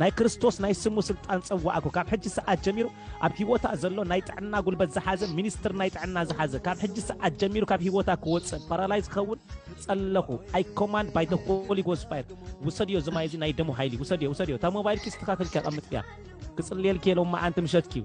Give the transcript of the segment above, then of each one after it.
ናይ ክርስቶስ ናይ ስሙ ስልጣን ጸዋዕኩ ካብ ሕጂ ሰዓት ጀሚሩ ኣብ ሂወታ ዘሎ ናይ ጥዕና ጉልበት ዝሓዘ ሚኒስትር ናይ ጥዕና ዝሓዘ ካብ ሕጂ ሰዓት ጀሚሩ ካብ ሂወታ ክወጽእ ፓራላይዝ ክኸውን ጸለኹ ኣይ ኮማንድ ባይ ደ ሆሊ ጎስ ፋየር ውሰድዮ እዚ ማይ እዚ ናይ ደሙ ሓይሊ ውሰድዮ ውሰድዮ እታ ሞባይልኪ ስተኻኺልኪ ኣቐምጥያ ክጽልየልኪ ሎማዓንቲ ምሸትኪዩ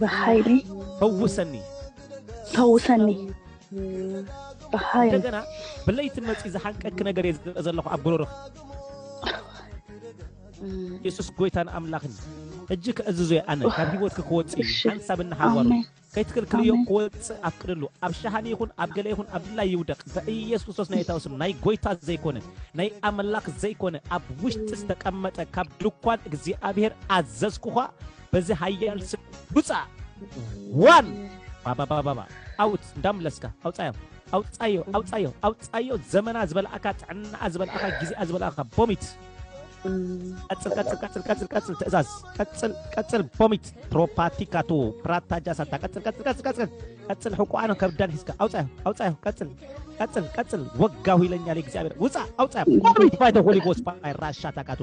ብሓይሊ ፈውሰኒ ፈውሰኒ ብሓይሊ እንደገና ብለይቲ መፅኡ ዝሓንቀኪ ነገር እየ ዝርኢ ዘለኹ ኣብ ጉሮሮኺ የሱስ ጎይታን ኣምላኽን ሕጂ ከእዝዞ እየ ኣነ ካብ ሂወትኪ ክወፅእ እዩ እሺ። ሓንሳብ እናሓዋሩ ኣሜን ከይትክልክልዮ ኣሜን። ክወፅእ ኣፍቅድሉ ኣብ ሸሃኒ ይኹን ኣብ ገለ ይኹን ኣብ ድላይ ይውደቕ ብኢየሱስ ክርስቶስ ናይ እታው ስም ናይ ጎይታ ዘይኮነ ናይ ኣምላኽ ዘይኮነ ኣብ ውሽጢ ዝተቀመጠ ካብ ድኳን እግዚኣብሔር ኣዘዝኩኻ በዚ ሃያል ስም ውፃእ ዋን ባባባባባ ኣውት እንዳምለስካ ኣውፃዮም ኣውፃዮ ኣውፃዮ ኣውፃዮ ዘመና ዝበልኣካ ጥዕናኣ ዝበልኣካ ግዜኣ ዝበልኣካ ቦሚት ቀጽል ቀጽል ቀጽል ቀጽል ቀጽል ትእዛዝ ቀጽል ቀጽል ቦሚት ፕሮፓቲካቱ ፕራታጃ ሳታ ቀጽል ቀጽል ቀጽል ቀጽል ቀጽል ሕቁኣን ከብዳን ሒዝካ ኣውጻዮ ኣውጻዮ ቀጽል ቀጽል ቀጽል ወጋሁ ይለኛል እግዚኣብሔር ውጻ ኣውጻዮ ቦሚት ባይተ ሆሊ ጎስ ባይ ራሻ ታካቱ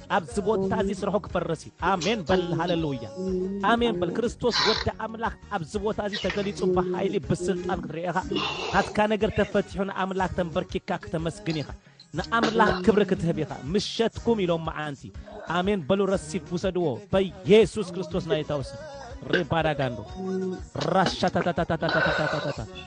ኣብዚ ቦታ እዚ ስርሑ ክፈርስ እዩ ኣሜን በል ሃለሉያ ኣሜን በል ክርስቶስ ወዲ ኣምላኽ ኣብዚ ቦታ እዚ ተገሊጹ ብሓይሊ ብስልጣን ክትርኢ ኢኻ ናትካ ነገር ተፈቲሑ ንኣምላኽ ተንበርኪካ ክተመስግን ኢኻ ንኣምላኽ ክብሪ ክትህብ ኢኻ ምሸትኩም ኢሎም መዓንቲ ኣሜን በሉ ረሲፍ ውሰድዎ በኢየሱስ ክርስቶስ ናይታውስ ሬባዳጋንዶ ራሻታታታታታታታታ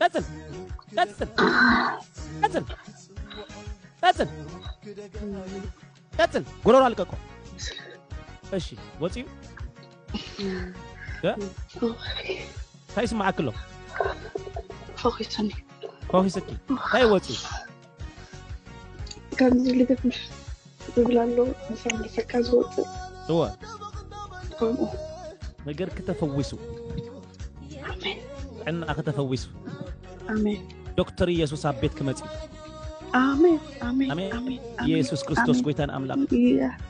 ቀጽል ቀጽል ቀጽል ቀጽል ቀጽል ጎሮሮ አልቀቆ እሺ ወፂኡ እንታይ ይስማዓክሎ ፈኺሱኒ ፈኺስኪ እንታይ ወፂኡ ከምዚ ልግት ምሽ ዝብል ኣሎ ምሳም ልሰካ ዝወፅእ እወ ከምኡ ነገር ክተፈዊሱ ኣሜን ዕና ክተፈዊሱ ኣሜን ዶክተር ኢየሱስ ኣብ ቤት ክመፅ እዩ ኣሜን ኣሜን ኣሜን ኣሜን ኣሜን ኢየሱስ ክርስቶስ ኣሜን። ጎይታን ኣምላኽ ኢያ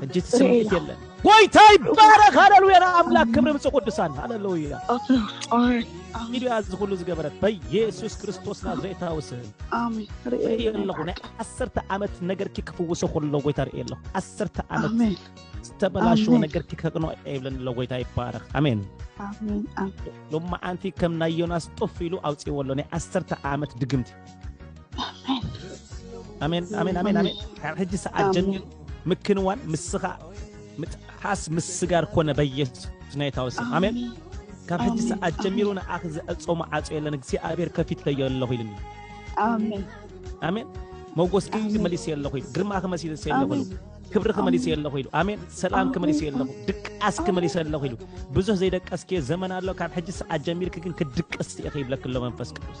ሕጂ እቲ ስምዒት የለን ጎይታ ይባረኽ ሃለሉያ ንኣምላክ ክብሪ ምፅ ቅዱሳን ሃለሉያ ኢሉ እያ እዚ ኩሉ ዝገበረት በየሱስ ክርስቶስ ናዝሬታዊ ስም ርእየ ኣለኹ ናይ ዓሰርተ ዓመት ነገርኪ ክፍውሶ ከሎ ጎይታ ርእየ ኣለኹ ዓሰርተ ዓመት ዝተበላሸወ ነገርኪ ከቅኖ የብለን ኣሎ ጎይታ ይባረኽ ኣሜን ሎመዓንቲ ከም ናይ ዮናስ ጦፍ ኢሉ ኣውፅዎ ኣሎ ናይ ዓሰርተ ዓመት ድግምቲ ኣሜን ኣሜን ኣሜን ኣሜን ካብ ሕጂ ሰዓት ጀሚሩ ምክንዋን ምስኻ ምጥሓስ ምስጋር ኮነ በየሱስ ናይታዊ ስም ኣሜን ካብ ሕጂ ሰዓት ጀሚሩ ንኣኺ ዘዕጾ መዓጾ የለን እግዚኣብሔር ከፊተዮ ኣለኹ ኢልኒ ኣሜን ኣሜን መጎስ መሊሰ ኣለኹ ኢሉ ግርማ ክመሲሰ ኣለኹ ኢሉ ክብሪ ክመሊሰ ኣለኹ ኢሉ ኣሜን ሰላም ክመሊሰ ኣለኹ ድቃስ ክመሊሰ ኣለኹ ኢሉ ብዙሕ ዘይደቀስክዮ ዘመን ኣሎ ካብ ሕጂ ሰዓት ጀሚርኪ ግን ክድቅስ ኢኺ ይብለክሎ መንፈስ ቅዱስ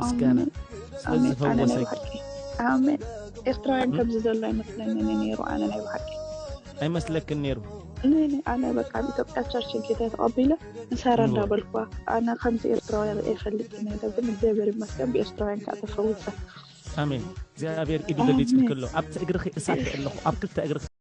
ምስጋና ስለ ዝፈወሰኪ ኣሜን ኤርትራውያን ከምዚ ዘሎ ኣይመስለንን ነይሩ ኣነ ናይ ብሓቂ ኣይመስለክን ነይሩ ነይኒ ኣነ በቃ ኣብ ኢትዮጵያ ቸርች ጌታ ተቐቢለ ንሰራ እንዳበልኳ ኣነ ከምዚ ኤርትራውያን ርእየ ፈልጥ ነደ ግን እግዚኣብሔር ይመስገን ብኤርትራውያን ከዓ ተፈውሰ ኣሜን እግዚኣብሔር ኢዱ ገሊጹልክሎ ኣብቲ እግርኺ እሳት ኣለኹ ኣብ ክልተ እግርኺ